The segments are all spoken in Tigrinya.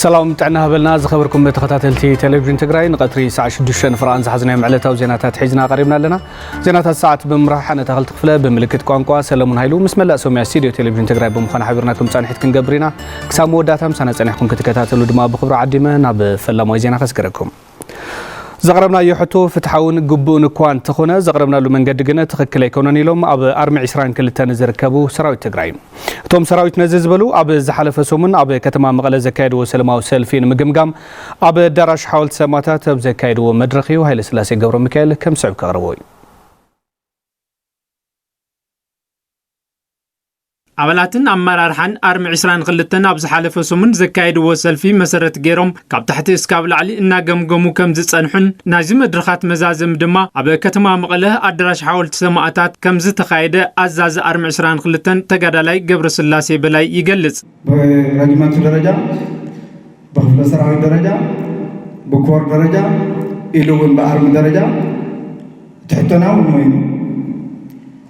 ሰላም ጥዕና ሃበልና ዝኸበርኩም ተኸታተልቲ ቴሌቪዥን ትግራይ ንቐትሪ ሰዓት ሽዱሽተ ንፍርቓን ዝሓዝናዮም ዕለታዊ ዜናታት ሒዝና ቀሪብና ኣለና ዜናታት ሰዓት ብምምራሕ ኣነ ተኸልቲ ክፍለ ብምልክት ቋንቋ ሰለሙን ሃይሉ ምስ መላእ ሶምያ ስቱድዮ ቴሌቪዥን ትግራይ ብምዃን ሓቢርና ከም ፃንሒት ክንገብር ኢና ክሳብ መወዳእታ ምሳና ፀኒሕኩም ክትከታተሉ ድማ ብክብሪ ዓዲመ ናብ ፈላማዊ ዜና ከስገረኩም ዘቕረብናዮ ሕቶ ፍትሓውን ግቡእን እኳ እንተኾነ ዘቕረብናሉ መንገዲ ግነ ትኽክል ኣይኮነን ኢሎም ኣብ ኣርሚ 22 ንዝርከቡ ሰራዊት ትግራይ እቶም ሰራዊት ነዚ ዝበሉ ኣብ ዝሓለፈ ሰሙን ኣብ ከተማ መቐለ ዘካየድዎ ሰለማዊ ሰልፊ ንምግምጋም ኣብ ኣዳራሽ ሓወልቲ ሰማእታት ኣብ ዘካየድዎ መድረኽ እዩ ሃይለስላሴ ገብረሚካኤል ከም ዝስዕብ ከቕርቦ እዩ። ኣባላትን ኣመራርሓን ኣርሚ ዕስራን ክልተን ኣብ ዝሓለፈ ሰሙን ዘካየድዎ ሰልፊ መሰረት ገይሮም ካብ ታሕቲ እስካብ ላዕሊ እናገምገሙ ከም ዝፀንሑን ናይዚ መድረኻት መዛዘሚ ድማ ኣብ ከተማ መቐለ ኣዳራሽ ሓወልቲ ሰማእታት ከም ዝተኻየደ ኣዛዚ ኣርሚ ዕስራን ክልተን ተጋዳላይ ገብረስላሴ በላይ ይገልፅ። ብረጅመንት ደረጃ፣ ብክፍለ ሰራዊት ደረጃ፣ ብኮር ደረጃ ኢሉ እውን ብኣርሚ ደረጃ ትሕቶና እውን ሞይኑ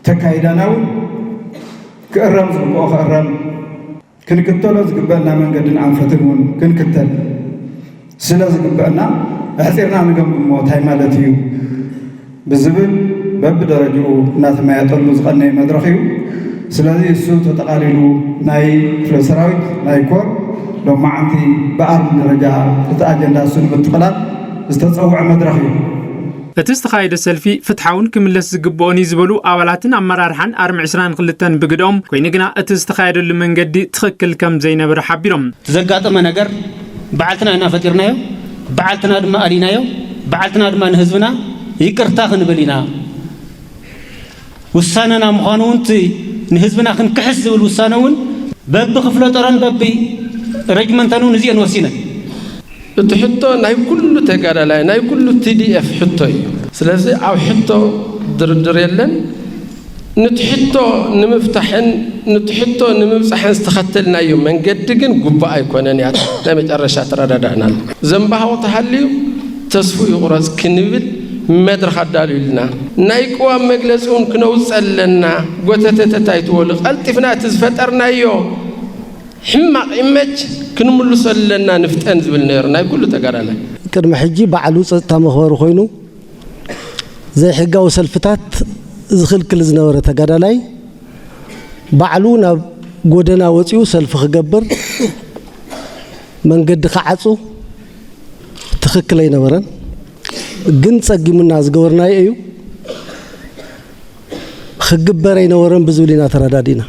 ተካይዳና እውን ክእረም ዝግብኦ ክእረም ክንክተሎ ዝግበእና መንገድን ኣንፈትን እውን ክንክተል ስለ ዝግበእና ኣሕፂርና ንገምግሞ እንታይ ማለት እዩ ብዝብል በብደረጅኡ እናተመያየጠሉ ዝቐነየ መድረኽ እዩ። ስለዚ እሱ ተጠቓሊሉ ናይ ክፍለ ሰራዊት፣ ናይ ኮር ሎማዓንቲ ብኣርሚ ደረጃ እቲ ኣጀንዳ እሱ ንምጥቕላል ዝተፀውዐ መድረኽ እዩ። እቲ ዝተኻየደ ሰልፊ ፍትሓውን ክምለስ ዝግበኦን እዩ ዝበሉ ኣባላትን ኣመራርሓን ኣርሚ ዕስራን ክልተን ብግደኦም፣ ኮይኑ ግና እቲ ዝተኻየደሉ መንገዲ ትኽክል ከምዘይነበረ ሓቢሮም። እቲ ዘጋጠመ ነገር በዓልትና ኢና ፈጢርናዮ፣ በዓልትና ድማ ኣሊናዮ፣ በዓልትና ድማ ንህዝብና ይቅርታ ክንብል ኢና። ውሳነና ምዃኑ እውን እቲ ንህዝብና ክንክሕስ ዝብል ውሳነ እውን። በብክፍለጦረን በቢ ረጅመንተን እውን እዚ እየን ወሲነን። እቲ ሕቶ ናይ ኩሉ ተጋዳላይ፣ ናይ ኩሉ TDF ሕቶ እዩ። ስለዚ ኣብ ሕቶ ድርድር የለን። ኑቲ ሕቶ ንምፍታሕን ኑቲ ሕቶ ንምብጻሕን ዝተኸተልናዮ መንገዲ ግን ግቡእ ኣይኮነን ያታ ናይ መጨረሻ ተረዳዳእናሉ። ዘምባህቑ ተሃልዩ ተስፍኡ ይቑረጽ ክንብል መድረኽ ኣዳልዩልና። ናይ ቅዋም መግለጺ እውን ክነውጽ ኣለና። ጎተተተት ኣይትበሉ። ቀልጢፍና እቲ ዝፈጠርናዮ ሕማቕ ኢመጅ ክንምልሶ ኣለና ንፍጠን ዝብል ነይሩ ናይ ኩሉ ተጋዳላይ። ቅድሚ ሕጂ ባዕሉ ጸጥታ መኽበሪ ኮይኑ፣ ዘይሕጋዊ ሰልፍታት ዝኽልክል ዝነበረ ተጋዳላይ ባዕሉ ናብ ጎደና ወፂኡ ሰልፊ ክገብር መንገዲ ክዓፁ ትኽክል ኣይነበረን። ግን ፀጊሙና ዝገበርናዮ እዩ። ኽግበር ኣይነበሮን ብዝብል ኢና ተረዳዲእና።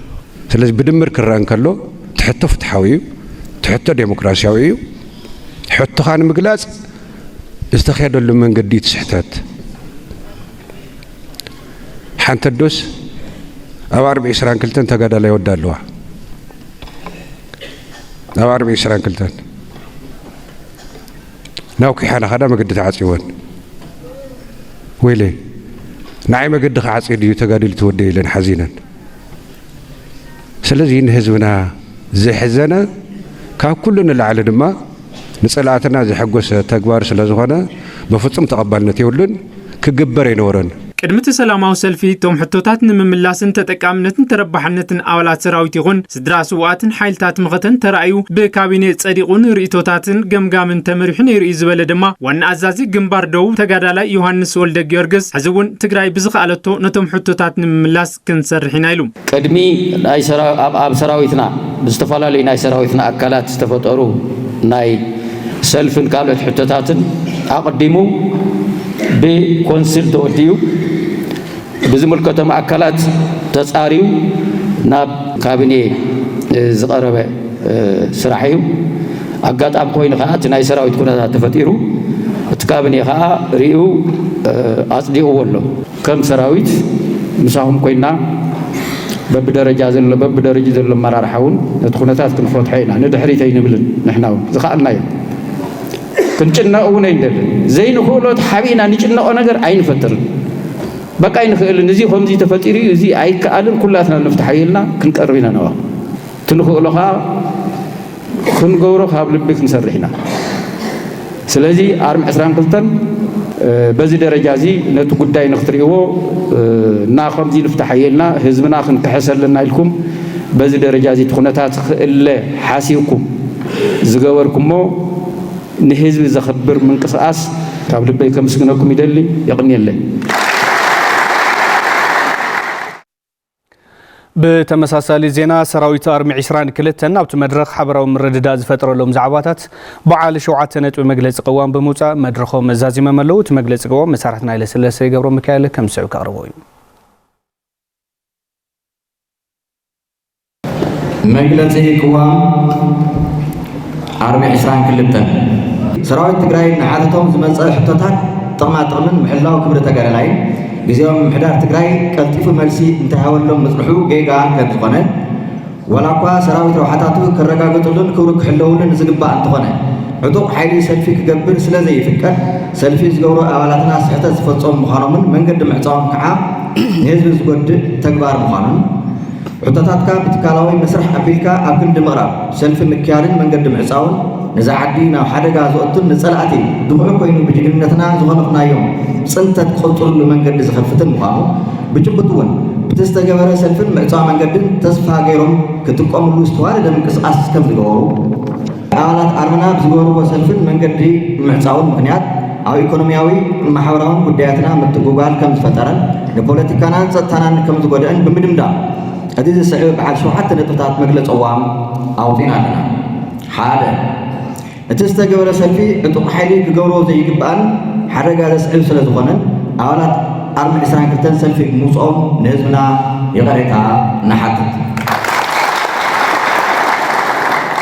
ስለዚ ብድምር ክረኣ እንከሎ እቲ ሕቶ ፍትሓዊ እዩ፣ እቲ ሕቶ ዴሞክራሲያዊ እዩ፣ ሕቶኻ ንምግላፅ ዝተኼደሉ መንገዲ እቲ ስሕተት። ሓንቲ ኣዶስ ኣብ ኣርብዒ ዕስራን ክልተን ተጋዳላይ ወዳ ኣለዋ ኣብ ኣርብዒ ዕስራን ክልተን ናብ ኩሓ ናኸዳ መገዲ ተዓጽወን ወይለይ ንዓይ መገዲ ክዓጽ ድዩ ተጋዲሉ ትወደ ኢለን ሓዚነን ስለዚ ንህዝብና ዘሕዘነ ካብ ኩሉ ንላዕሊ ድማ ንፀላእትና ዘሐጎሰ ተግባር ስለዝኾነ በፍፁም ተቐባልነት የብሉን። ክግበር ኣይነበሮን። ቅድሚ እቲ ሰላማዊ ሰልፊ እቶም ሕቶታት ንምምላስን ተጠቃምነትን ተረባሕነትን ኣባላት ሰራዊት ይኹን ስድራ ስውኣትን ሓይልታት መኸተን ተራእዩ ብካቢኔ ፀዲቑን ርኢቶታትን ገምጋምን ተመሪሑ ነይሩ እዩ ዝበለ ድማ ዋና ኣዛዚ ግንባር ደቡብ ተጋዳላይ ዮሃንስ ወልደጊዮርግስ ሕዚ እውን ትግራይ ብዝኸኣለቶ ነቶም ሕቶታት ንምምላስ ክንሰርሕ ኢና ኢሉ። ቅድሚ ኣብ ሰራዊትና ብዝተፈላለዩ ናይ ሰራዊትና ኣካላት ዝተፈጠሩ ናይ ሰልፍን ካልኦት ሕቶታትን ኣቕዲሙ ብኮንስል ተወዲኡ ብዝምልከቶም ኣካላት ተፃርዩ ናብ ካብኔ ዝቐረበ ስራሕ እዩ። ኣጋጣሚ ኮይኑ ከዓ እቲ ናይ ሰራዊት ኩነታት ተፈጢሩ እቲ ካብኔ ከዓ ሪኡ ኣፅዲቕዎ ኣሎ። ከም ሰራዊት ምሳኹም ኮይና በብደረጃ ዘሎ በብደረጅኡ ዘሎ ኣመራርሓ እውን ነቲ ኩነታት ክንፈትሖ ኢና ንድሕሪት ኣይንብልን ንሕና እውን ዝኸኣልናዮ ክንጭነቕ እውን ኣይንደልን ዘይንኽእሎ ተሓቢእና ንጭነቖ ነገር ኣይንፈጥርን በቃ ኣይንኽእልን እዚ ከምዚ ተፈጢሩ እዩ እዚ ኣይከኣልን ኩላትና ንፍትሓዮ ኢልና ክንቀርብ ኢና ነዋ እቲ ንኽእሎ ከዓ ክንገብሮ ካብ ልቢ ክንሰርሕ ኢና። ስለዚ ኣርም ዕስራን ክልተን በዚ ደረጃ እዚ ነቲ ጉዳይ ንክትርእይዎ እና ከምዚ ንፍታሓዮ ኢልና ህዝብና ክንክሕስ ኣለና ኢልኩም በዚ ደረጃ እዚ እቲ ኩነታት ክእለ ሓሲብኩም ዝገበርኩሞ ንህዝቢ ዘኽብር ምንቅስቓስ ካብ ልበይ ከምስግነኩም ይደሊ። የቕንየለይ። ብተመሳሳሊ ዜና ሰራዊት ኣርሚ ዒስራን ክልተን ኣብቲ መድረኽ ሓበራዊ ምርድዳእ ዝፈጠረሎም ዛዕባታት በዓል ሸውዓተ ነጥቢ መግለፂ ቅዋም ብምውፃእ መድረኾም መዛዚመም ኣለዉ። እቲ መግለፂ ቅዋም መሳርሕትና ሃይለስለሰ ገብረሚካኤል ከምዝስዕብ ከቕርቦ እዩ። መግለፂ ቅዋም ዓርቢ ዕስራን ክልተን ሰራዊት ትግራይ ንዓለቶም ዝመፀ ሕቶታት ጥቕማ ጥቕምን ምሕላው ክብሪ ተጋዳላይን ግዜያዊ ምምሕዳር ትግራይ ቀልጢፉ መልሲ እንተይሃበሎም ምፅንሑ ጌጋ ከምዝኾነ ዋላ እኳ ሰራዊት ረብሓታቱ ክረጋገጥሉን ክብሩ ክሕለውሉን ዝግባእ እንተኾነ ዕጡቕ ሓይሊ ሰልፊ ክገብር ስለዘይፍቀድ ሰልፊ ዝገብሩ ኣባላትና ስሕተት ዝፈፀሙ ምዃኖምን መንገዲ ምዕፃዎም ከዓ ንህዝቢ ዝጎድእ ተግባር ምዃኑን ሕቶታትካ ብትካላዊ መስርሕ ኣቢልካ ኣብ ክንዲ ምቕራብ፣ ሰልፊ ምክያድን መንገዲ ምዕጻውን ነዛ ዓዲ ናብ ሓደጋ ዘእቱን ንጸላእቲ ድኹዒ ኮይኑ ብጅግንነትና ዝኸነፍናዮም ጽንተት ዝቕጽልሉ መንገዲ ዝኸፍትን ምዃኑ ብጭቡጥ'ውን ብቲ ዝተገበረ ሰልፍን ምዕጻው መንገድን ተስፋ ገይሮም ክጥቀምሉ ዝተዋደደ ምንቅስቓስ ከምዝገበሩ ኣባላት ኣረና ኣብ ዝገበርዎ ሰልፍን መንገዲ ምዕፃውን ምኽንያት ኣብ ኢኮኖሚያዊ ማሕበራውን ጉዳያትና ምትጉጓል ከም ዝፈጠረን ንፖለቲካናን ፀጥታናን ከም ዝጎደእን ብምድምዳም እዚ ዝስዕብ በዓል ሸውዓተ ነጥብታት መግለፂ ቅዋም ኣውፂእና ኣለና። ሓደ። እቲ ዝተገበረ ሰልፊ ዕጡቕ ሓይሊ ክገብሮ ዘይግባእን ሓደጋ ዘስዕብ ስለዝኾነን ኣባላት ዓርቢ ዕስራን ክልተን ሰልፊ ብምውፅኦም ንህዝብና ይቕሬታ ንሓትት።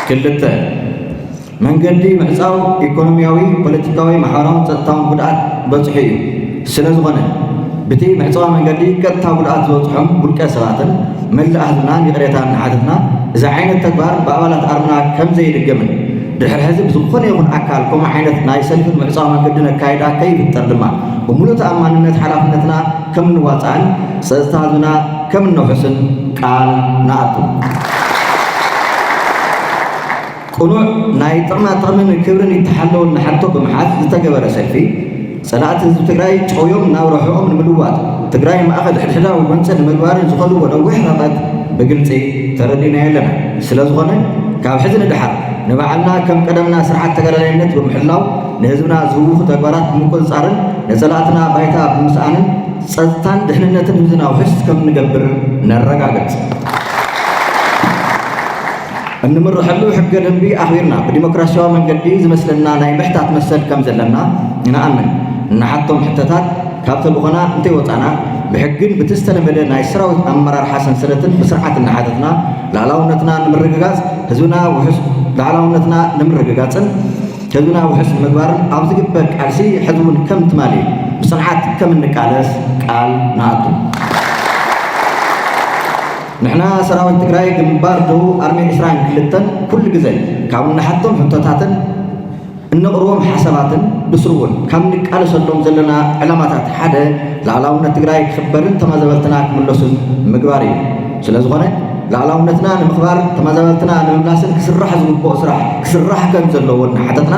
ክልተ፣ መንገዲ ምዕፃው ኢኮኖሚያዊ፣ ፖለቲካዊ፣ ማሕበራውን ፀጥታውን ጉድኣት በፅሑ እዩ። ስለዝኾነ ብቲ ምዕፅዋ መንገዲ ቀጥታ ጉድኣት ዝበፅሖም ውልቀ ሰባትን መላእ ህዝብናን ይቕሬታ እናሓተትና እዚ ዓይነት ተግባር ብኣባላት ኣርና ከምዘይድገምን ድሕሪ ሕዚ ብዝኾነ ይኹን ኣካል ከምኡ ዓይነት ናይ ሰልፍን ምዕጻው መንገድን ኣካይዳ ከይፍጠር ድማ ብምሉእ ተኣማንነት ሓላፍነትና ከም እንዋጻእን ጸጥታ ህዝብና ከም እነውሕስን ቃል ንኣቱ። ቅኑዕ ናይ ጥቕማ ጥቕምን ክብርን ይተሓለወልና ሕቶ ብምሓዝ ዝተገበረ ሰልፊ፣ ፀላእቲ ህዝቢ ትግራይ ጨውዮም ናብ ረብሕኦም ንምልዋጥ ትግራይ ማእኸል ሕድሕዳዊ ጎንፂ ንምግባርን ዝኸድዎ ነዊሕ ርሕቐት ብግልፂ ተረዲእናዮ ኣለና። ስለዝኾነ ካብ ሕዚ ንደሓር ንባዕልና ከም ቀደምና ስርዓት ተጋዳላይነት ብምሕላው ንህዝብና ዝህውኹ ተግባራት ብምቁፅፃርን ንፀላእትና ባይታ ብምስኣንን ፀፅታን ድሕንነትን ህዝብና ውሕስ ከምንገብር ነረጋግፅ። እንምረሐሉ ሕገ ደንቢ ኣኽቢርና ብዲሞክራሲያዊ መንገዲ ዝመስለና ናይ ምሕታት መሰል ከም ዘለና ንኣምን። እንሓቶም ሕቶታት ካብ ተልእኾና እንተይወፃእና ብሕግን ብቲ ዝተለመደ ናይ ሰራዊት ኣመራርሓ ሰንሰለትን ብስርዓት እናሓተትና ልኣላውነትና ንምርግጋፅ ህዝብና ውሑስ ልኣላውነትና ንምርግጋፅን ህዝብና ውሑስ ንምግባርን ኣብ ዝግበር ቃልሲ ሕዚ እውን ከም ትማሊ ብፅንዓት ከም እንቃለስ ቃል ንኣቱ። ንሕና ሰራዊት ትግራይ ግንባር ደቡብ ኣርሚ ዕስራን ክልተን ኩሉ ግዘ ካብ እንሓቶም ሕቶታትን እነቕርቦም ሓሳባትን ብስሩ እውን ካብ ንቃለሰሎም ዘለና ዕላማታት ሓደ ልኣላውነት ትግራይ ክኽበርን ተማዛበልትና ክምለሱን ምግባር እዩ። ስለዝኾነ ልኣላውነትና ንምኽባር ተማዛበልትና ንምምላስን ክስራሕ ዝግብኦ ስራሕ ክስራሕ ከምዘለዎ እናሓተትና፣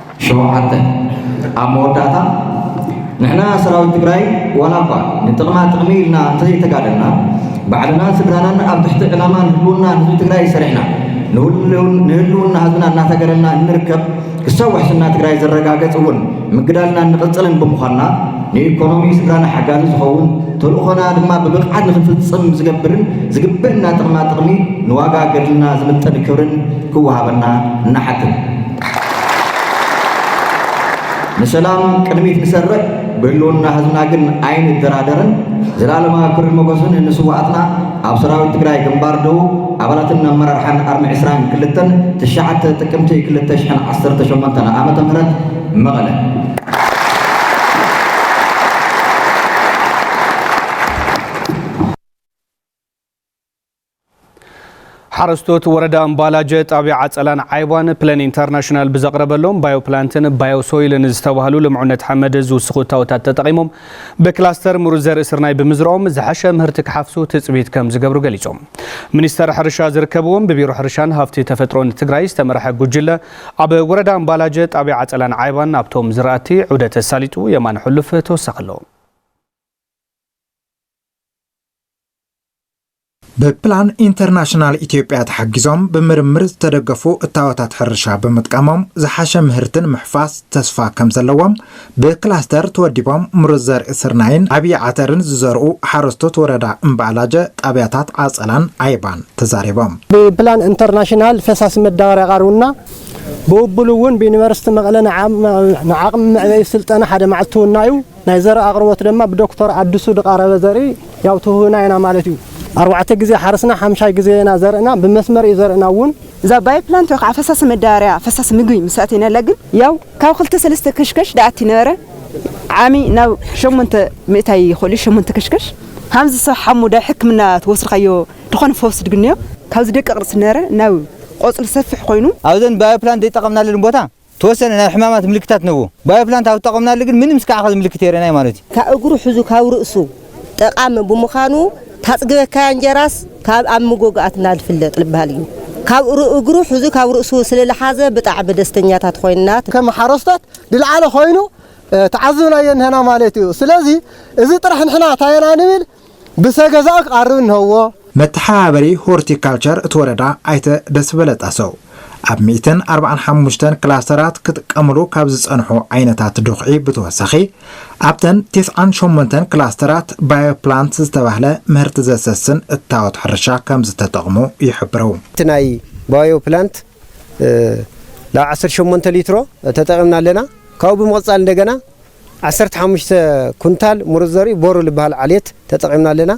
ሸውዓተ፣ ኣብ መወዳእታ ንሕና ሰራዊት ትግራይ ዋላ እኳ ንጥቕማ ጥቕሚ ኢልና እንተዘይተጋደልና ባዕልናን ስድራናን ኣብ ትሕቲ ዕላማ ንህልውና ህዝቢ ትግራይ ሰሪሕና ንህልውና ህዝብና እናተገደልና እንርከብ ክሳብ ውሕስና ትግራይ ዘረጋገፅ እውን ምግዳልና እንቕፅልን ብምዃንና ንኢኮኖሚ ስድራና ሓጋዚ ዝኸውን ተልእኾና ድማ ብብቕዓት ንክንፍፅም ዝገብርን ዝግበእና ጥቕማ ጥቕሚ ንዋጋ ገድልና ዝምጥን ክብርን ክወሃበና እናሓትን ንሰላም ቅድሚት ንሰርሕ ብህልውና ህዝብና ግን ኣይንደራደርን። ዘልኣለማዊ ክብርን ሞጎስን ንስዋኣትና ኣብ ሰራዊት ትግራይ ግንባር ደቡብ ኣባላትን ኣመራርሓን ኣርሚ ዕስራን ክልተን ትሽዓተ ጥቅምቲ ክልተ ሽሕን ዓሰርተ ሸሞንተን ዓመተ ምህረት መቐለ። ሓረስቶት ወረዳ እምባላጀ ጣብያ ዓፀላን ዓይቧን ፕለን ኢንተርናሽናል ብዘቕረበሎም ባዮፕላንትን ባዮሶይልን ዝተባህሉ ልምዑነት ሓመድ ዝውስኹ እታወታት ተጠቒሞም ብክላስተር ምሩፅ ዘርኢ ስርናይ ብምዝረኦም ዝሐሸ ምህርቲ ክሓፍሱ ትፅቢት ከም ዝገብሩ ገሊፆም። ሚኒስተር ሕርሻ ዝርከብዎም ብቢሮ ሕርሻን ሃፍቲ ተፈጥሮን ትግራይ ዝተመርሐ ጉጅለ ኣብ ወረዳ እምባላጀ ጣብያ ዓፀላን ዓይባን ኣብቶም ዝራእቲ ዑደት ኣሳሊጡ የማነ ሕሉፍ ተወሳኺ ኣለዎ። ብፕላን ኢንተርናሽናል ኢትዮጵያ ተሓጊዞም ብምርምር ዝተደገፉ እታወታት ሕርሻ ብምጥቃሞም ዝሓሸ ምህርቲ ንምሕፋስ ተስፋ ከምዘለዎም ብክላስተር ተወዲቦም ምሩፅ ዘርኢ ስርናይን ዓብዪ ዓተርን ዝዘርኡ ሓረስቶት ወረዳ እምባኣላጀ ጣብያታት ዓፀላን ዓይባን ተዛሪቦም። ብፕላን ኢንተርናሽናል ፈሳሲ መዳበርያ ቀሪቡና፣ ብውብሉ እውን ብዩኒቨርሲቲ መቐለ ንዓቕሚ መዕበዪ ስልጠና ሓደ መዓልቲ ውናዩ። ናይ ዘርኢ ኣቕርቦት ደማ ብዶክቶር ኣዱሱ ድቓረበ ዘርኢ ያው ትህቡና ኢና ማለት እዩ። ኣርባዕተ ግዜ ሓርስና ሓምሻይ ግዜ ኢና ዘርእና ብመስመር እዩ ዘርእና እውን። እዛ ባዮ ፕላንት ወይ ከዓ ፈሳሲ መዳበርያ ፈሳሲ ምግቢ ምስ ኣእተይናላ ግን ያው ካብ ክልተ ሰለስተ ከሽከሽ ድኣቲ ነበረ ዓሚ ናብ ሸሞንተ ምእታይ ይኽእል እዩ ሸሞንተ ከሽከሽ ሃምዚ ሰብ ሓሙ ዳብ ሕክምና ተወስድካዮ ድኾነ ፈውሲ ድግንዮ ካብዚ ደቂቕ ርእሲ ነበረ ናብ ቆጽሊ ሰፍሕ ኮይኑ ኣብዘን ባዮ ፕላንት ደይጠቐምናለን ቦታ ተወሰነ ናይ ሕማማት ምልክታት ነዎ። ባዮፕላንት ኣብ ተጠቐምናሉ ግን ምንም እስካዕ ኸዚ ምልክት የርእናይ ማለት እዩ። ካብ እግሩ ሕዙ ካብ ርእሱ ጠቓሚ ብምዃኑ ታጽግበካያ እንጀራስ ካብ ኣብ ምጎግኣት እናልፍለጥ ልበሃል እዩ። ካብ እግሩ ሕዙ ካብ ርእሱ ስልልሓዘ ብጣዕሚ ደስተኛታት ኾይንና። ከም ሓረስቶት ድልዓለ ኾይኑ ተዓዝብናዮ እንሀና ማለት እዩ። ስለዚ እዚ ጥራሕ ንሕና ታየና ንብል ብሰ ገዛኡ ክቐርብ እንሀዎ። መተሓባበሪ ሆርቲ ካልቸር እቲ ወረዳ ኣይተ ደስበለ ጣሰው፣ ኣብ ሚእትን ኣርባዓን ሓሙሽተን ክላስተራት ክጥቀምሉ ካብ ዝፀንሑ ዓይነታት ዱኽዒ ብተወሳኺ ኣብተን ቴስዓን ሸሞንተን ክላስተራት ባዮ ፕላንት ዝተባህለ ምህርቲ ዘሰስን እታወት ሕርሻ ከምዝተጠቕሙ ይሕብሩ። እቲ ናይ ባዮ ፕላንት ላብ ዓሰርተ ሸሞንተ ሊትሮ ተጠቒምና ኣለና። ካብኡ ብምቕፃል እንደገና ዓሰርተ ሓሙሽተ ኩንታል ሙሩፅ ዘርኢ ቦሩ ልበሃል ዓሌት ተጠቒምና ኣለና።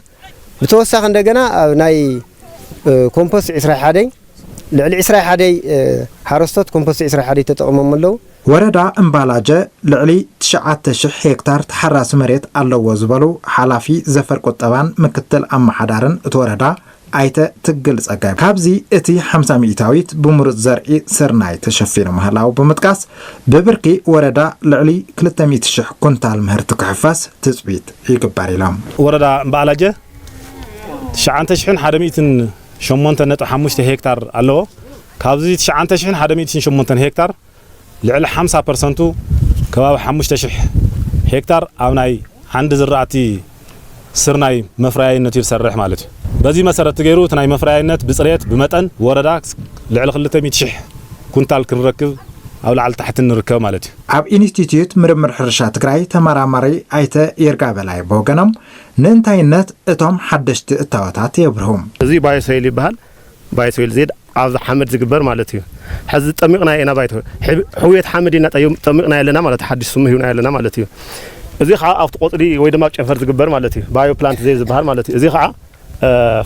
ብተወሳኺ እንደገና ኣብ ናይ ኮምፖስት ዕስራይ ሓደይ ልዕሊ ዕስራይ ሓደይ ሓረስቶት ኮምፖስት ዕስራይ ሓደይ ተጠቒሞም ኣለዉ። ወረዳ እምባላጀ ልዕሊ ትሽዓተ ሽሕ ሄክታር ተሓራሲ መሬት ኣለዎ ዝበሉ ሓላፊ ዘፈር ቁጠባን ምክትል ኣመሓዳርን እቲ ወረዳ ኣይተ ትግል ፀጋይ ካብዚ እቲ ሓምሳ ሚኢታዊት ብምሩፅ ዘርኢ ስርናይ ተሸፊኑ ምህላዉ ብምጥቃስ፣ ብብርኪ ወረዳ ልዕሊ ክልተ ሚእቲ ሽሕ ኩንታል ምህርቲ ክሕፈስ ትፅቢት ይግበር ኢሎም። ወረዳ እምበኣላጀ ትሽዓንተ ሽሕን ሓደ ሚእትን ሸሞንተን ነጥቢ ሓሙሽተ ሄክታር ኣለዎ። ካብዚ ትሽዓንተ ሽሕን ሓደ ሚእትን ሸሞንተን ሄክታር፣ ልዕሊ ሓምሳ ፐርሰንቱ ከባቢ ሓሙሽተ ሽሕ ሄክታር ኣብ ናይ ዓንዲ ዝራእቲ ስርናይ መፍረያይነት እዩ ዝሰርሕ ማለት እዩ። በዚ መሰረት ገይሩ እቲ ናይ መፍረያይነት ብፅሬት ብመጠን ወረዳ ልዕሊ ክልተ ሚእቲ ሽሕ ኩንታል ክንረክብ ኣብ ላዕሊ ታሕትን ንርከብ ማለት እዩ። ኣብ ኢንስቲትዩት ምርምር ሕርሻ ትግራይ ተመራማሪ ኣይተ ይርጋ በላይ ብወገኖም ንእንታይነት እቶም ሓደሽቲ እታወታት የብርሁ። እዚ ባዮ ሶይል ይበሃል። ባይቶ ኢሉ ዜድ ኣብዚ ሓመድ ዝግበር ማለት እዩ። ሕዚ ጠሚቕናዮ ኢና ባይቶ፣ ሕውየት ሓመድ ኢና ጠሚቕናዮ ኣለና ማለት እዩ፣ ሓድሽ ስሙ ሂብናዮ ኣለና ማለት እዩ። እዚ ኸዓ ኣብቲ ቆፅሊ ወይ ድማ ኣብ ጨንፈር ዝግበር ማለት እዩ፣ ባዮ ፕላንት ዜድ ዝበሃል ማለት እዩ። እዚ ኸዓ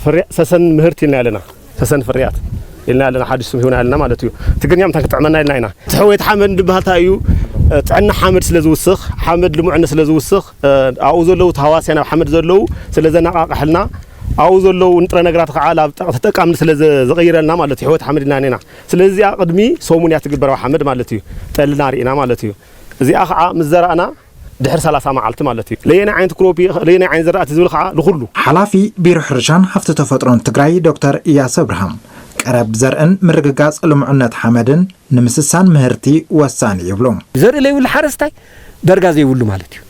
ፍርያት ሰሰን ምህርቲ ኢልናዮ ኣለና፣ ሰሰን ፍርያት ኢልናዮ ኣለና፣ ሓድሽ ስም ሂብናዮ ኣለና ማለት እዩ። ትግርኛ ምንታይ ክጥዕመና ኢልና ኢና። እቲ ሕውየት ሓመድ እንድበሃል እንታይ እዩ? ጥዕና ሓመድ ስለ ዝውስኽ፣ ሓመድ ልሙዕነት ስለ ዝውስኽ፣ ኣብኡ ዘለዉ ተሃዋስያን ኣብ ሓመድ ዘለዉ ስለ ዘነቓቕሐልና፣ ኣብኡ ዘለዉ ንጥረ ነገራት ኸዓ ናብ ተጠቃምነት ስለ ዝቕይረልና ማለት እዩ፣ ሕይወት ሓመድ ኢና ኔና። ስለዚ እዚኣ ቕድሚ ሰሙን እያ ትግበር ኣብ ሓመድ ማለት እዩ፣ ጠልና ርኢና ማለት እዩ። እዚኣ ኸዓ ምስ ዘራእና ድሕሪ ሰላሳ መዓልቲ ማለት እዩ። ለየናይ ዓይነት ክሮፕ እዩ፣ ለየናይ ዓይነት ዘራእቲ ዝብል ኸዓ ንኹሉ። ሓላፊ ቢሮ ሕርሻን ሃፍቲ ተፈጥሮን ትግራይ ዶክተር እያሱ ኣብርሃም፣ ቀረብ ዘርእን ምርግጋፅ ልሙዕነት ሓመድን ንምስሳን ምህርቲ ወሳኒ እዩ ይብሉ። ዘርኢ ለይብሉ ሓረስታይ ደርጋ ዘይብሉ ማለት እዩ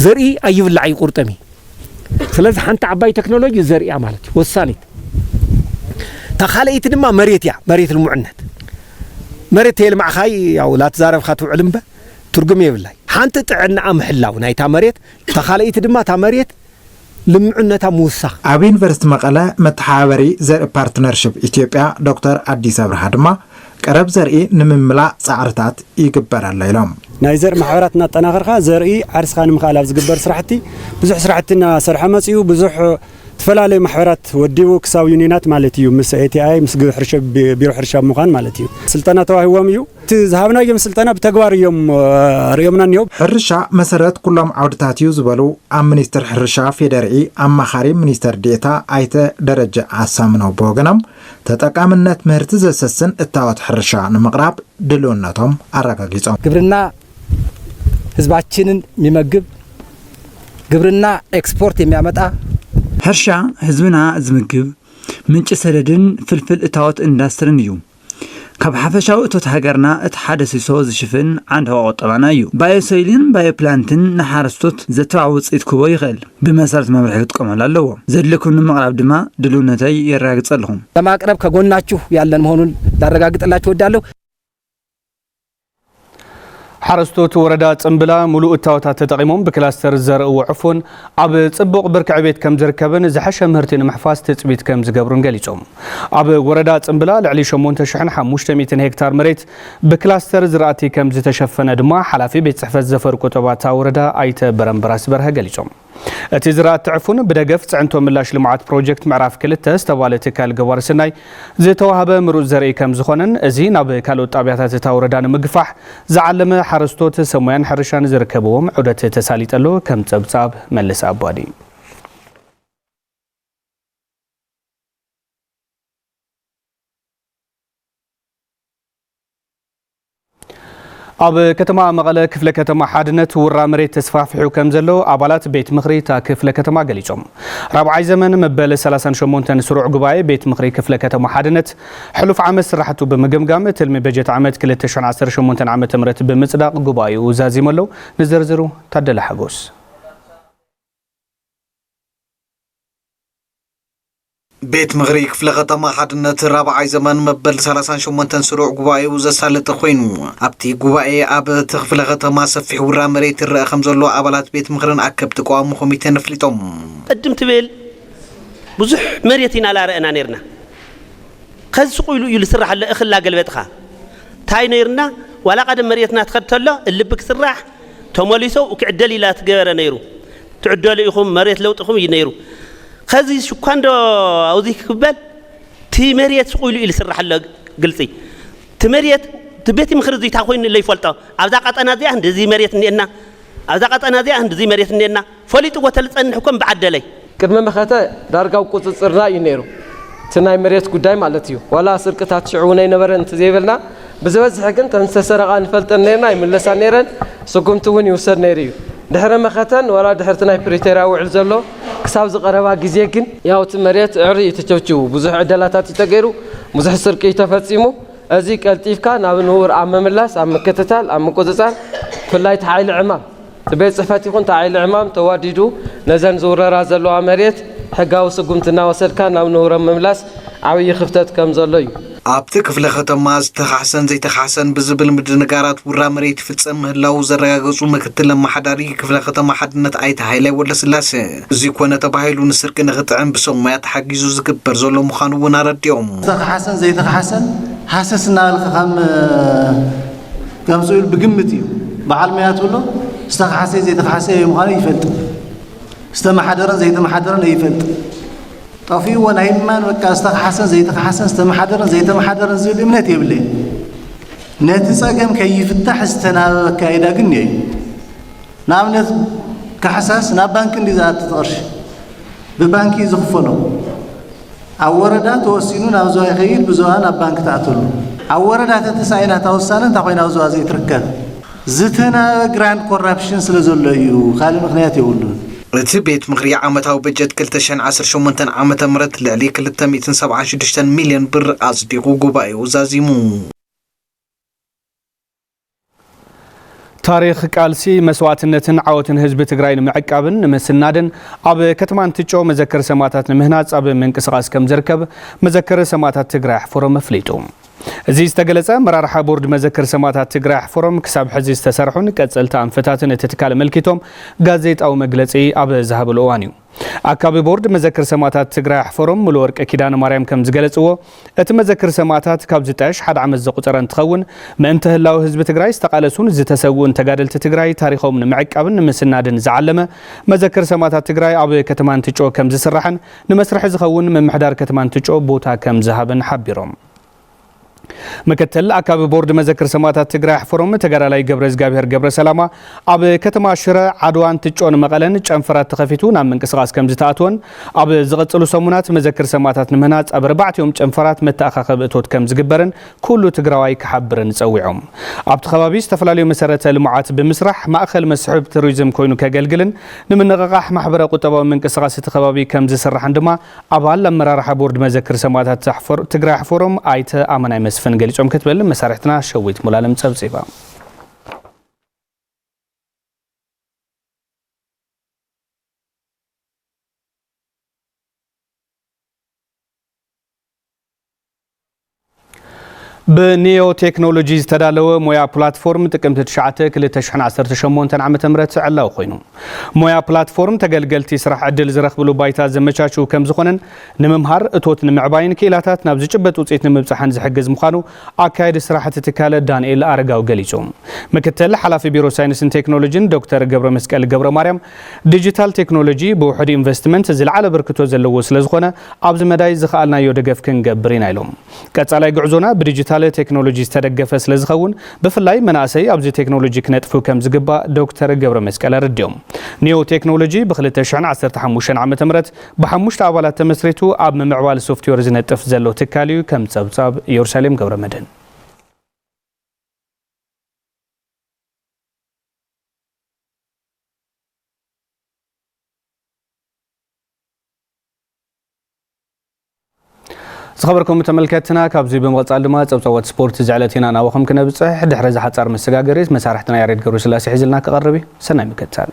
ዘርኢ ኣይብላዕ ይቁርጠም እዩ ስለዚ ሓንቲ ዓባይ ቴክኖሎጂ ዘርኢ እያ ማለት እዩ ወሳኒት እታ ካልኣይቲ ድማ መሬት እያ መሬት ልሙዕነት መሬት ተየልማዕኻይ ያው ላትዛረብካ ትውዕል እምበ ትርጉም የብላይ ሓንቲ ጥዕናኣ ምሕላው ናይታ መሬት እታ ካልኣይቲ ድማ እታ መሬት ልምዑነታ ምውሳኽ። ኣብ ዩኒቨርሲቲ መቐለ መተሓባበሪ ዘርኢ ፓርትነርሽፕ ኢትዮጵያ ዶክተር ኣዲስ ኣብርሃ ድማ ቀረብ ዘርኢ ንምምላእ ፃዕርታት ይግበር ኣሎ ኢሎም። ናይ ዘርኢ ማሕበራት እናጠናኸርካ ዘርኢ ዓርስኻ ንምኽኣል ኣብ ዝግበር ስራሕቲ ብዙሕ ስራሕቲ እናሰርሐ መፂኡ። ብዙሕ ዝተፈላለዩ ማሕበራት ወዲቡ ክሳብ ዩኒየናት ማለት እዩ ምስ ATI ምስ ቢሮ ሕርሻ ብምዃን ማለት እዩ ስልጠና ተዋሂቦም እዩ። እቲ ዝሃብናዮም ስልጠና ብተግባር እዮም ርእዮምና እኒኦ። ሕርሻ መሰረት ኩሎም ዓውድታት እዩ ዝበሉ ኣብ ሚኒስትር ሕርሻ ፌዴሪኢ ኣማኻሪ ሚኒስትር ዴኤታ ኣይተ ደረጀ ኣሳምነው ብወገኖም ተጠቃምነት ምህርቲ ዘሰስን እታወት ሕርሻ ንምቕራብ ድልውነቶም ኣረጋጊፆም። ግብርና ህዝባችንን የሚመግብ ግብርና ኤክስፖርት የሚያመጣ ሕርሻ ህዝብና ዝምግብ፣ ምንጪ ሰደድን ፍልፍል እታወት ኢንዳስትሪን እዩ። ካብ ሓፈሻዊ እቶት ሃገርና እቲ ሓደ ሲሶ ዝሽፍን ዓንዲ ሕቖ ቁጠባና እዩ። ባዮሶይልን ባዮፕላንትን ንሓረስቶት ዘተባዕ ውፅኢት ክህቦ ይኽእል። ብመሰረት መምርሒ ክጥቀመሉ ኣለዎ። ዘድልየኩም ንምቕራብ ድማ ድልውነተይ የረጋግፀልኹም። ለማቅረብ ከጎናችሁ ያለን መሆኑን ላረጋግጥላችሁ እወዳለሁ። ሓረስቶት ወረዳ ጽምብላ ሙሉእ እታወታት ተጠቒሞም ብክላስተር ዝዘርእዎ ዕፉን ኣብ ጽቡቕ ብርኪ ዕቤት ከም ዝርከብን ዝሐሸ ምህርቲ ንምሕፋስ ትፅቢት ከም ዝገብሩን ገሊፆም። ኣብ ወረዳ ጽምብላ ልዕሊ 8500 ሄክታር መሬት ብክላስተር ዝራእቲ ከም ዝተሸፈነ ድማ ሓላፊ ቤት ፅሕፈት ዘፈር ቁጠባ እታ ወረዳ ኣይተ በረምበራስ በርሀ ገሊፆም። እቲ ዝራእቲ ዕፉን ብደገፍ ፅዕንቶ ምላሽ ልምዓት ፕሮጀክት ምዕራፍ ክልተ ዝተባለ ትካል ገባሪ ሰናይ ዝተዋሃበ ምሩፅ ዘርኢ ከምዝኾነን እዚ ናብ ካልኦት ጣብያታት እታ ወረዳ ንምግፋሕ ዝዓለመ ሓረስቶት ሰብ ሞያን ሕርሻን ዝርከብዎም ዑደት ተሳሊጠሎ ከም ፀብፃብ መለሰ ኣባዲ ኣብ ከተማ መቐለ ክፍለ ከተማ ሓድነት ውራ መሬት ተስፋፍሑ ከም ዘሎ ኣባላት ቤት ምኽሪ እታ ክፍለ ከተማ ገሊፆም። ራብዓይ ዘመን መበል 38 ስሩዕ ጉባኤ ቤት ምኽሪ ክፍለ ከተማ ሓድነት ሕሉፍ ዓመት ስራሕቱ ብምግምጋም ትልሚ በጀት ዓመት 2018 ዓ.ም ብምፅዳቕ ጉባኤኡ ዛዚሙ ኣሎ። ንዝርዝሩ ታደለ ሓጎስ። ቤት ምኽሪ ክፍለ ከተማ ሓድነት ራብዓይ ዘመን መበል ሰላሳን ሸሞንተን ስሩዕ ጉባኤኡ ዘሳለጠ ኮይኑ ኣብቲ ጉባኤ ኣብ እቲ ክፍለ ከተማ ሰፊሕ ውራ መሬት ይረአ ከምዘሎ ኣባላት ቤት ምኽርን ኣከብቲ ቀዋሚ ኮሚቴን ኣፍሊጦም። ቅድም ትብል ብዙሕ መሬት ኢና ላረእና ነርና ከዚ ስቁ ኢሉ እዩ ልስራሕሎ እኽል ላገልበጥኻ ታይ ነርና ዋላ ቀደም መሬትና ትኸድ ተሎ እልቢ ክስራሕ ተመሊሶ ክዕደል ኢላ ትገበረ ነይሩ ትዕደሉ ኢኹም መሬት ለውጥኹም እዩ ነይሩ ከዚ ሽኳንዶ ኣውዚ ክበል ቲ መሬት ስቑኢሉ ኢሉ ስራሕ ኣሎ ግልፂ ቲ መሬት ቲ ቤት ምክሪ እዚታ ኮይኑ ለይፈልጦ ኣብዛ ቀጠና እዚኣ እንደዚ መሬት እኒኤና ኣብዛ ቀጠና እዚኣ እንደዚ መሬት እኒኤና ፈሊጥዎ ተልጸንሕ እኮ እምብዓደለይ። ቅድሚ መኸተ ዳርጋ ኣብ ቁጽጽርና እዩ ነይሩ እቲ ናይ መሬት ጉዳይ ማለት እዩ ዋላ ስርቅታት ሽዑ እውን ኣይነበረን እንተዘይበልና ብዝበዝሐ ግን እተን ዝተሰረቓ ንፈልጠን ነይርና ይምለሳ ነይረን ስጉምቲ እውን ይውሰድ ነይሩ እዩ ድሕሪ መኸተን ዋላ ድሕሪ እቲ ናይ ፕሪቶርያ ውዕል ዘሎ ክሳብ እዚ ቀረባ ግዜ ግን ያው እቲ መሬት ዕሪ እዩ ተቸብቺቡ ብዙሕ ዕደላታት እዩ ተገይሩ ብዙሕ ስርቂ እዩ ተፈጺሙ እዚ ቀልጢፍካ ናብ ንቡር ኣብ ምምላስ ኣብ ምክትታል ኣብ ምቁጽጻር ብፍላይ እቲ ሓይሊ ዕማም ቤት ፅሕፈት ይኹን እቲ ዓይሊ ዕማም ተዋዲዱ ነዘን ዝውረራ ዘለዋ መሬት ሕጋዊ ስጉምቲ እናወሰድካ ናብ ንቡረን ምምላስ ዓብዪ ክፍተት ከም ዘሎ እዩ። ኣብቲ ክፍለ ከተማ ዝተኻሕሰን ዘይተኻሕሰን ብዝብል ምድንጋራት ውራ መሬት ይፍፀም ምህላዉ ዘረጋገፁ ምክትል ኣመሓዳሪ ክፍለ ከተማ ሓድነት ኣይተ ሃይላይ ወልደስላሰ እዙይ ኮነ ተባሂሉ ንስርቂ ንኽጥዕም ብሰብ ሞያ ተሓጊዙ ዝግበር ዘሎ ምዃኑ እውን ኣረዲኦም። ዝተኻሕሰን ዘይተኻሕሰን ሃሰስ እናበልካ ከም ጋም ስኡል ብግምት እዩ በዓል መያ ትብሎ ዝተኸሓሰ ዘይተኸሓሰ የ ምዃኑ ይፈልጥ ዝተመሓደረን ዘይተመሓደረን ይፈልጥ ጠፊኡዎ ናይ ማን በቃ ዝተኸሓሰን ዘይተኸሓሰን ዝተመሓደረን ዘይተመሓደረን ዝብል እምነት የብለ ነቲ ፀገም ከይፍታሕ ዝተናበበ ኣካይዳ ግን እየ እዩ ንኣብነት ካሕሳስ ናብ ባንኪ እንዲ ዝኣቲ ትቕርሺ ብባንኪ ዝኽፈሎ ኣብ ወረዳ ተወሲኑ ናብ ዞባ ይኸይድ ብዞባ ናብ ባንኪ ትኣትሉ። ኣብ ወረዳ ተተሳኢና እታ ውሳነ እንታይ ኮይና ኣብ ዞባ ዘይትርከብ? ዝተናበበ ግራንድ ኮራፕሽን ስለ ዘሎ እዩ ካልእ ምኽንያት የብሉን። እቲ ቤት ምኽሪ ዓመታዊ በጀት ክልተ ሽሕን ዓሰርተ ሸሞንተን ዓመተ ምህረት ልዕሊ ክልተ ሚእትን ሰብዓን ሽዱሽተን ሚልዮን ብር ኣፅዲቑ ጉባኤኡ ዛዚሙ። ታሪኽ ቃልሲ፣ መስዋእትነትን ዓወትን ህዝቢ ትግራይ ንምዕቃብን ንምስናድን ኣብ ከተማ እንትጮ መዘከሪ ሰማእታት ንምህናፅ ኣብ ምንቅስቓስ ከምዝርከብ መዘከሪ ሰማእታት ትግራይ ኣሕፈሮም ኣፍሊጡ። እዚ ዝተገለፀ ኣመራርሓ ቦርድ መዘከሪ ሰማእታት ትግራይ ኣሕፈሮም ክሳብ ሕዚ ዝተሰርሑን ቀፀልቲ ኣንፈታትን እቲ ትካል ኣመልኪቶም ጋዜጣዊ መግለፂ ኣብ ዝሃበሉ እዋን እዩ። ኣካቢ ቦርድ መዘክር ሰማእታት ትግራይ ኣሕፈሮም ሙሉወርቅ ኪዳነማርያም ከም ዝገለፅዎ እቲ መዘክር ሰማእታት ካብ ዝጣየሽ ሓደ ዓመት ዘቑፀረ እንትኸውን ምእንተ ህላወ ህዝቢ ትግራይ ዝተቓለሱን ዝተሰውኡን ተጋደልቲ ትግራይ ታሪኾም ንምዕቃብን ንምስናድን ዝዓለመ መዘክር ሰማእታት ትግራይ ኣብ ከተማ እንትጮ ከም ዝስራሕን ንመስርሒ ዝኸውን ምምሕዳር ከተማ እንትጮ ቦታ ከም ዝሃበን ሓቢሮም። ምክትል ኣካቢ ቦርድ መዘክር ሰማእታት ትግራይ ኣሕፈሮም ተጋዳላይ ገብረዝጋብሄር ገብረሰላማ ኣብ ከተማ ሽረ ዓድዋ እንትጮን መቐለን ጨንፈራት ተኸፊቱ ናብ ምንቅስቓስ ከምዝተኣትወን ኣብ ዝቕፅሉ ሰሙናት መዘክር ሰማእታት ንምህናፅ ኣብ ኣርባዕቲኦም ጨንፈራት መተኣኻኸቢ እቶት ከምዝግበርን ኩሉ ትግራዋይ ክሓብርን ፀዊዖም ኣብቲ ከባቢ ዝተፈላለዩ መሰረተ ልምዓት ብምስራሕ ማእኸል መስሕብ ቱሪዝም ኮይኑ ከገልግልን ንምንቕቓሕ ማሕበረ ቁጠባዊ ምንቅስቓስ እቲ ከባቢ ከምዝስራሕን ድማ ኣባል ኣመራርሓ ቦርድ መዘክር ሰማእታት ትግራይ ኣሕፈሮም ኣይተ ኣመናይ መስፍን ገሊፆም ክትብል መሳርሕትና ሸዊት ሙሉኣለም ፀብፂባ። ብኒዮ ቴክኖሎጂ ዝተዳለወ ሞያ ፕላትፎርም ጥቅምቲ 9 2018 ዓ.ም ዕላዊ ኮይኑ ሞያ ፕላትፎርም ተገልገልቲ ስራሕ ዕድል ዝረኽብሉ ባይታ ዘመቻችው ከም ዝኾነን ንምምሃር እቶት ንምዕባይን ክኢላታት ናብ ዝጭበጥ ውፅኢት ንምብፃሕን ዝሕግዝ ምዃኑ ኣካየዲ ስራሕቲ ትካለ ዳንኤል ኣረጋዊ ገሊፁ። ምክትል ሓላፊ ቢሮ ሳይንስን ቴክኖሎጂን ዶክተር ገብረመስቀል ገብረማርያም ዲጂታል ቴክኖሎጂ ብውሑድ ኢንቨስትመንት ዝለዓለ ኣበርክቶ ዘለዎ ስለዝኾነ ኣብዚ መዳይ ዝኸኣልናዮ ደገፍ ክንገብር ኢና ኢሎም። ቀፃላይ ጉዕዞና ብዲጂታል ቴክኖሎጂ ዝተደገፈ ስለዝኸውን ብፍላይ መናእሰይ ኣብዚ ቴክኖሎጂ ክነጥፉ ከምዝግባእ ዶክተር ገብረመስቀል ኣረዲኦም። ኒዮ ቴክኖሎጂ ብ ክልተ ሽሕን ዓሰርተ ሓሙሽተን ዓመተ ምህረት ብሓሙሽተ ኣባላት ተመስሪቱ ኣብ ምምዕባል ሶፍትዌር ዝነጥፍ ዘሎ ትካል እዩ ከም ፀብፃብ ኢየሩሳሌም ገብረመድህን። ዝኸበርኩም ተመልከትና ካብዚ ብምቕፃል ድማ ፀብፀቦት ስፖርት ዝዕለት ኢና ናባኹም ክነብፅሕ ድሕሪ እዚ ሓፃር መሰጋገሪ መሳርሕትና ያሬድ ገብሩ ስላሴ ሒዝልና ክቐርብ እዩ ሰናይ ምክትታል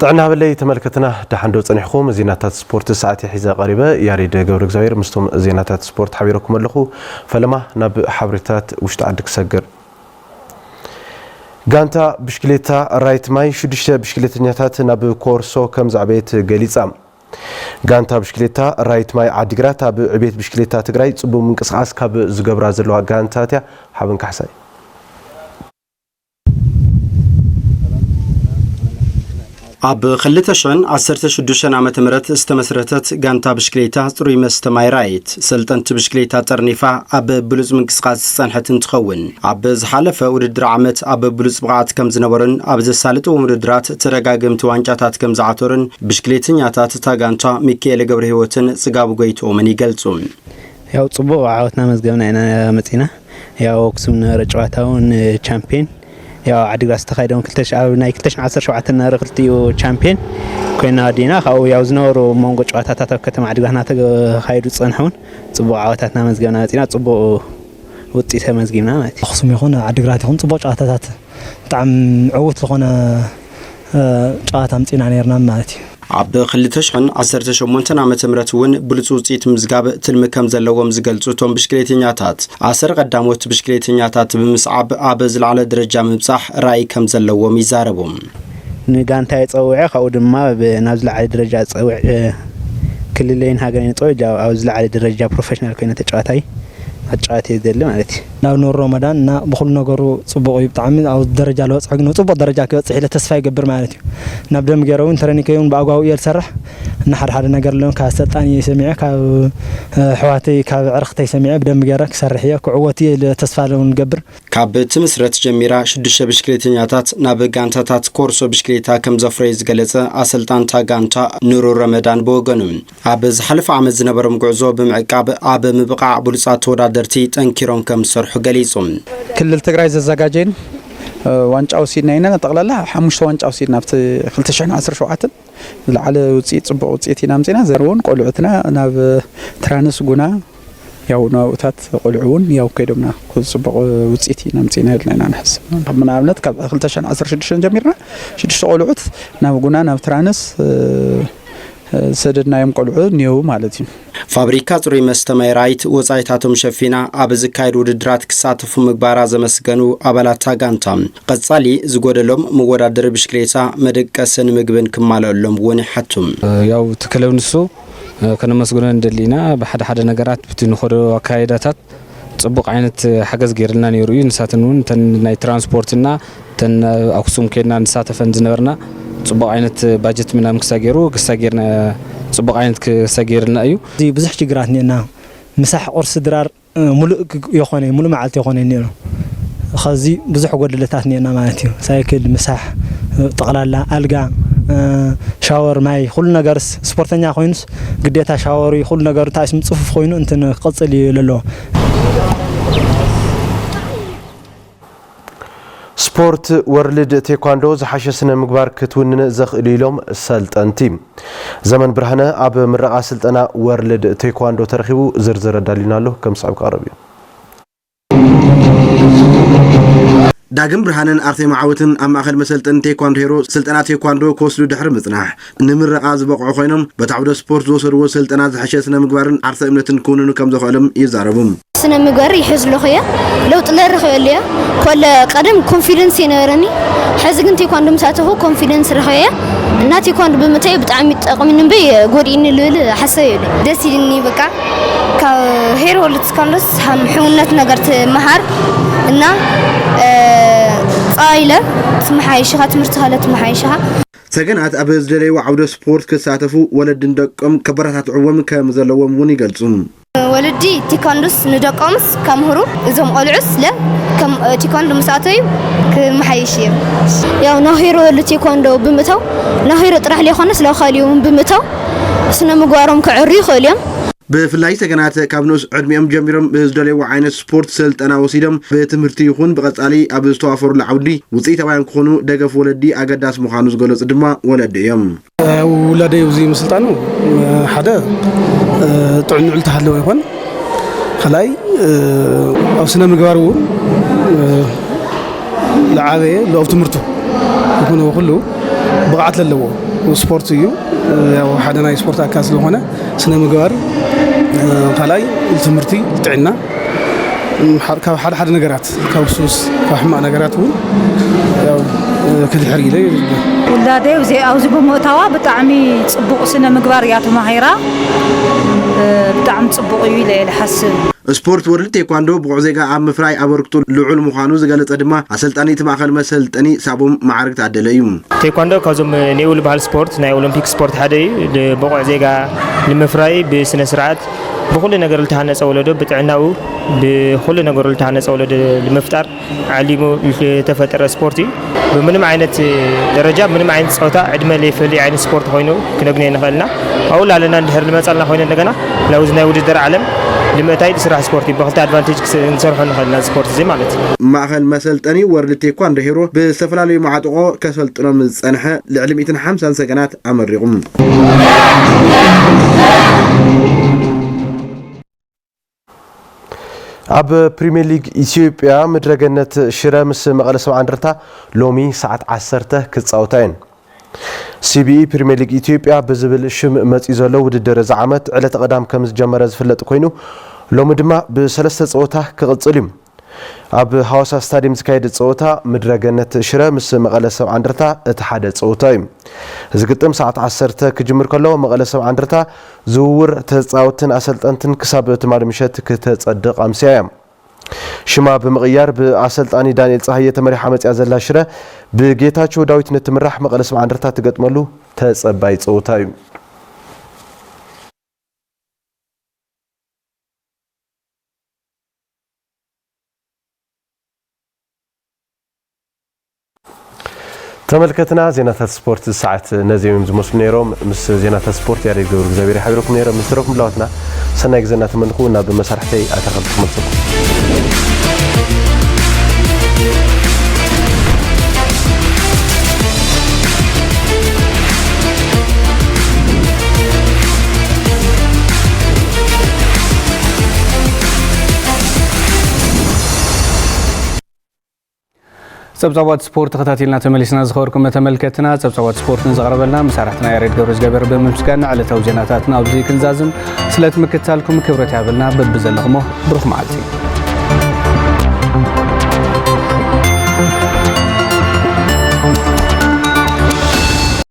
ጥዕና ሃበለይ ተመልከትና ደሓን ዶ ጸኒሕኹም? ዜናታት ስፖርት ሰዓት'የ ሒዘ ቀሪበ። ያሬድ ገብረእግዚኣብሄር ምስቶም ዜናታት ስፖርት ሓቢረኩም ኣለኹ። ፈለማ ናብ ሓበሬታታት ውሽጢ ዓዲ ክሰግር። ጋንታ ብሽክሌታ ራይት ማይ ሽዱሽተ ብሽክሌተኛታት ናብ ኮርሶ ከም ዘዕበየት ገሊጻ። ጋንታ ብሽክሌታ ራይት ማይ ዓዲግራት ኣብ ዕቤት ብሽክሌታ ትግራይ ጽቡብ ምንቅስቓስ ካብ ዝገብራ ዘለዋ ጋንታት እያ። ሓበን ካሕሳይ። ኣብ ክልተ ሽሕን ዓሰርተ ሽዱሽተን ዓመተ ምህረት ዝተመስረተት ጋንታ ብሽክሌታ ፅሩይ መስተ ማይ ራይት ሰልጠንቲ ብሽክሌታ ጠርኒፋ ኣብ ብሉፅ ምንቅስቓስ ዝፀንሐት እንትኸውን ኣብ ዝሓለፈ ውድድር ዓመት ኣብ ብሉፅ ብቕዓት ከም ዝነበሩን ኣብ ዘሳልጥዎም ውድድራት ተደጋገምቲ ዋንጫታት ከም ዝዓተሩን ብሽክሌተኛታት እታ ጋንታ ሚካኤለ ገብረ ህይወትን ፅጋቡ ጎይትኦምን ይገልፁ። ያው ጽቡቅ ዓወት ናመዝገብና ኢና መጺና ያው ኣክሱም ነበረ ጨዋታ ውን ቻምፒየን ያው ዓዲግራት ዝተኻየደውን ኣብ ናይ 217 ነበረ ክልቲኡ ቻምፒየን ኮይና ኣዲና ካብኡ ያው ዝነበሩ መንጎ ጨዋታታት ኣብ ከተማ ዓዲግራት እናተኻየዱ ዝፀንሐውን ፅቡቅ ዓወታት እናመዝገብና መፂና ፅቡቅ ውፅኢት ተመዝጊብና ማለት እዩ። ኣክሱም ይኹን ዓዲግራት ይኹን ፅቡቅ ጨዋታታት ብጣዕሚ ዕዉት ዝኾነ ጨዋታ ኣምፂእና ነይርና ማለት እዩ። ኣብ ክልተ ሽሕን ዓሰርተ ሸሞንተን ዓመተ ምህረት እውን ብሉፅ ውፅኢት ምዝጋብ ትልሚ ከም ዘለዎም ዝገልፁ እቶም ብሽክሌተኛታት፣ ኣሰር ቐዳሞት ብሽክሌተኛታት ብምስዓብ ኣብ ዝለዓለ ደረጃ ምብፃሕ ራኢ ከም ዘለዎም ይዛረቡ። ንጋንታይ ፀዊዐ ካብኡ ድማ ናብ ዝለዓለ ደረጃ ፀዊዐ ክልለይን ሃገረይን ፀዊዐ ኣብ ዝለዓለ ደረጃ ፕሮፌሽናል ኮይነ ተጫዋታይ ክጫወት እየ ዝደሊ ማለት እዩ። ናብ ኑር ሮመዳን እና ብኹሉ ነገሩ ጽቡቕ እዩ ብጣዕሚ ኣብ ደረጃ ለበጽሖ ግን ጽቡቕ ደረጃ ክበጽሕ ኢለ ተስፋ ይገብር ማለት እዩ ናብ ደም ገይረ እውን ትረኒ ከይውን ብኣጓቡ እየ ዝሰርሕ እና ሓደ ሓደ ነገር ኣለውን ካብ ኣሰልጣኒ እየ ሰሚዐ ካብ ኣሕዋተይ ካብ ዕርኽተይ ሰሚዐ ብደንብ ገይረ ክሰርሕ እየ ክዕወት እየ ኢለ ተስፋ ለውን ገብር ካብ ትምስረት ጀሚራ ሽዱሽተ ብሽክሌተኛታት ናብ ጋንታታት ኮርሶ ብሽክሌታ ከምዘፍረዩ ዝገለጸ ኣሰልጣንታ ጋንታ ኑሩ ረመዳን ብወገኑ፣ ኣብ ዝሓለፈ ዓመት ዝነበሮም ጉዕዞ ብምዕቃብ ኣብ ምብቓዕ ብሉፃት ተወዳደርቲ ጠንኪሮም ከምዝሰርሑ ገሊፁ። ክልል ትግራይ ዘዘጋጀየን ዋንጫ ወሲድና ኢና። ጠቕላላ ሓሙሽተ ዋንጫ ወሲድና ኣብቲ ክልተ ሽሕን ዓሰርተ ሸውዓተን ዝለዓለ ውፅኢት ፅቡቕ ውፅኢት ኢና ኣምፂእና። ዘርውን ቆልዑትና ናብ ትራንስ ጉና ያው ናብኡታት ቆልዑ እውን ያው ከይዶምና ፅቡቕ ውፅኢት ኢና ምፅኢና ኢልና ኢና ንሕስብ ንኣብነት ካብ 216 ጀሚርና ሽዱሽተ ቆልዑት ናብ ጉና ናብ ትራንስ ዝሰደድናዮም ቆልዑ እኒሄው ማለት እዩ ፋብሪካ ጽሩይ መስተ ማይራይት ወጻኢታቶም ሸፊና ኣብ ዝካየድ ውድድራት ክሳተፉ ምግባራ ዘመስገኑ ኣባላታ ጋንታ ቀጻሊ ዝጎደሎም መወዳደሪ ብሽክሌታ መደቀስን ምግብን ክማልኣሎም እውን ይሓቱ ያው እቲ ክለብ ንሱ ከነመስግኖ ንደሊ ኢና። ብሓደ ሓደ ነገራት ብቲ ንኸዶ ኣካይዳታት ጽቡቕ ዓይነት ሓገዝ ገይርልና ነይሩ እዩ። ንሳተን እውን እተን ናይ ትራንስፖርትና እተን ኣብ ኣክሱም ኬድና ንሳተፈን ዝነበርና ጽቡቕ ዓይነት ባጀት ምናምን ክሳ ገይሩ ክሳ ገይርና ጽቡቕ ዓይነት ክሳ ገይርልና እዩ። ብዙሕ ሽግራት እኒኤና ምሳሕ ቁርሲ ድራር ሙሉእ የኾነይ ሙሉእ መዓልቲ የኾነይ ኔሩ ኸዚ ብዙሕ ጎደለታት ኔርና ማለት እዩ ሳይክል ምሳሕ ጠቅላላ ኣልጋ ሻወር ማይ ኹሉ ነገርስ ስፖርተኛ ኮይኑስ ግዴታ ሻወር እዩ ኹሉ ነገሩ ታይስም ጽፉፍ ኮይኑ እንትን ክቅጽል እዩ ለለዎ። ስፖርት ወርልድ ቴኳንዶ ዝሓሸ ስነ ምግባር ክትውንን ዘኽእል'ዩ ኢሎም ሰልጠንቲ። ዘመን ብርሃነ ኣብ ምረቓ ስልጠና ወርልድ ቴኳንዶ ተረኺቡ ዝርዝር ኣዳልዩልና ኣሎ፣ ከም ዝስዕብ ክቐርብ እዩ። ዳግም ብርሃነን ኣርቴማ ዓወትን ኣብ ማእኸል መሰልጠኒ ቴኳንዶ ሄሮ ስልጠና ቴኳንዶ ክወስዱ ድሕሪ ምፅናሕ፣ ንምርቓ ዝበቕዑ ኮይኖም፣ በቲ ዓውደ ስፖርት ዝወሰድዎ ስልጠና ዝሐሸ ስነ ምግባርን ዓርሰ እምነትን ክውንኑ ከም ዘኽእልም ይዛረቡ። ስነ ምግባር ይሕዝ ኣለኹ እየ ለውጢ ለረኽበሉ እየ ኮለ ቀደም ኮንፊደንስ የነበረኒ ሐዚ ግን ቴኳንዶ ምስ ኣተኹ ኮንፊደንስ ረኽበ እየ እና ቴኳንዶ ብምእታወይ ብጣዕሚ ጠቕሚኒ እምበይ ጎዲእኒ ልብል ሓሳብ የብለይን። ደስ ኢልኒ በቃ ካብ ሄሮ ወሎ ቴኳንዶስ ሃም ሕውነት ነገር ትመሃር እና ጸባይ ለ ትመሓየሽ ኢኻ ትምህርትኻ ለ ትመሓየሽ ኢኻ። ሰገናት ኣብ ዝደለይዎ ዓውደ ስፖርት ክሳተፉ ወለዲ ንደቆም ከበረታትዕዎም ከም ዘለዎም እውን ይገልፁ። ወለዲ ቴኳንዶስ ንደቆምስ ከምህሩ እዞም ቆልዑስ ለ ከም ቴኳንዶ ምስ ኣተዩ ክመሓየሽ እየም። ያው ናሂሮ ል ቴኳንዶ ብምእታው ናሂሮ ጥራሕ ለይኮነስ ለ ካሊኡ እውን ብምእታው ስነ ምግባሮም ከዐርዩ ይኽእሉ እዮም። ብፍላይ ሰገናት ካብ ንኡስ ዕድሚኦም ጀሚሮም ዝደለይዎ ዓይነት ስፖርት ሰልጠና ወሲዶም ብትምህርቲ ይኹን ብቐፃሊ ኣብ ዝተዋፈሩሉ ዓውዲ ውፅኢታውያን ክኾኑ ደገፍ ወለዲ ኣገዳሲ ምዃኑ ዝገለፁ ድማ ወለዲ እዮም። ውላደይ ኣብዚ ምስልጣኑ ሓደ ጥዕንኡ ዝተሃለወ ይኾን፣ ካልኣይ ኣብ ስነ ምግባር እውን ዝዓበየ ኣብ ትምህርቱ ይኹን ኩሉ ብቕዓት ዘለዎ ስፖርት እዩ። ያው ሓደ ናይ ስፖርት ኣካል ስለኾነ ስነ ምግባር ካልኣይ ትምህርቲ ጥዕና ካብ ሓደ ሓደ ነገራት ካብ ሱስ ካብ ሕማቅ ነገራት እውን ያው ክድሕር ኢለ ውላደ ኣብዚ ብምእታዋ ብጣዕሚ ፅቡቅ ስነ ምግባር እያ ተማሂራ ብጣዕሚ ፅቡቅ እዩ ኢለ እየ ዝሓስብ ስፖርት ወርልድ ቴኳንዶ ብቑዕ ዜጋ ኣብ ምፍራይ ኣበርክቶ ልዑል ምዃኑ ዝገለፀ ድማ ኣሰልጣኒ እቲ ማእኸል መሰልጠኒ ሳቦም መዓርግ ታደለ እዩ። ቴኳንዶ ካብዞም ኔው ልበሃል ስፖርት ናይ ኦሎምፒክ ስፖርት ሓደ እዩ። ብቑዕ ዜጋ ንምፍራይ ብስነ ስርዓት ብኹሉ ነገር ልተሃነፀ ወለዶ ብጥዕናኡ ብኹሉ ነገሩ ልተሃነፀ ወለዶ ንምፍጣር ዓሊሙ ልተፈጠረ ስፖርት እዩ። ብምንም ዓይነት ደረጃ ብምንም ዓይነት ፆታ ዕድመ ለይፈሊ ዓይነት ስፖርት ኮይኑ ክነግንዮ ንኽእል ኢና። ኣብኡ ላለና እንድሕር ልመፃልና ኮይኑ እንደገና ናብዚ ናይ ውድድር ዓለም ልምእታይ ልስራሕ ስፖርት እዩ። ብክልተ ኣድቫንቴጅ ክንሰርሖ ንኽእል ነዚ ኮርስ እዚ ማለት እዩ። ማእኸል መሰልጠኒ ወርልድ ቴኳንዶ ሄሮ ብዝተፈላለዩ መዓጥቖ ከሰልጥኖም ንዝፀንሐ ልዕሊ ሚእትን ሓምሳን ሰገናት ኣመሪቑ። ኣብ ፕሪሚየር ሊግ ኢትዮጵያ ምድረገነት ሽረ ምስ መቐለ ሰብዓ እንደርታ ሎሚ ሰዓት ዓሰርተ ክፃወታ እየን። ሲቢኢ ፕሪሚየር ሊግ ኢትዮጵያ ብዝብል ሽም መፂኡ ዘሎ ውድድር እዚ ዓመት ዕለተ ቀዳም ከምዝጀመረ ዝፍለጥ ኮይኑ ሎሚ ድማ ብሰለስተ ፀወታ ክቕፅል እዩ። ኣብ ሃዋሳ ስታዲየም ዝካየድ ፀወታ ምድረገነት ሽረ ምስ መቐለ ሰብዓ እንደርታ እቲ ሓደ ፀወታ እዩ። እዚ ግጥም ሰዓት ዓሰርተ ክጅምር ከሎ መቐለ ሰብዓ እንደርታ ዝውውር ተፃወትቲን ኣሰልጠንትን ክሳብ ትማሊ ምሸት ክተፀድቕ ኣምስያ እያ። ሽማ ብምቕያር ብኣሰልጣኒ ዳንኤል ጸሃየ ተመሪሓ መጺኣ ዘላ ሽረ፣ ብጌታቸው ዳዊት ንእትምራሕ መቐለ ሰብዓ እንደርታ ትገጥመሉ ተጸባዪ ጸወታ እዩ። ተመልከትና ዜናታት ስፖርት ዝሰዓት ነዚኦም እዮም ዝመስሉ ነይሮም ምስ ዜናታት ስፖርት ያሬድ ገብሩ እግዚኣብሔር ይሓብረኩም ነይረ ምስ ትረፍ ምላዋትና ሰናይ ግዜ እናተመንኹ ናብ መሳርሕተይ ኣተኸል ክመልሰኩም ጸብጻባት ስፖርት ተኸታቲልና ተመሊስና ዝኸበርኩም መተመልከትና ጸብጻባት ስፖርት ንዘቕረበልና መሳርሕትና ያሬድ ገብረ ዝገበር ብምምስጋን ዕለታዊ ዜናታትና ኣብዚ ክንዛዝም ስለት ምክትታልኩም ክብረት ያብልና በብዘለኹሞ ብሩኽ መዓልቲ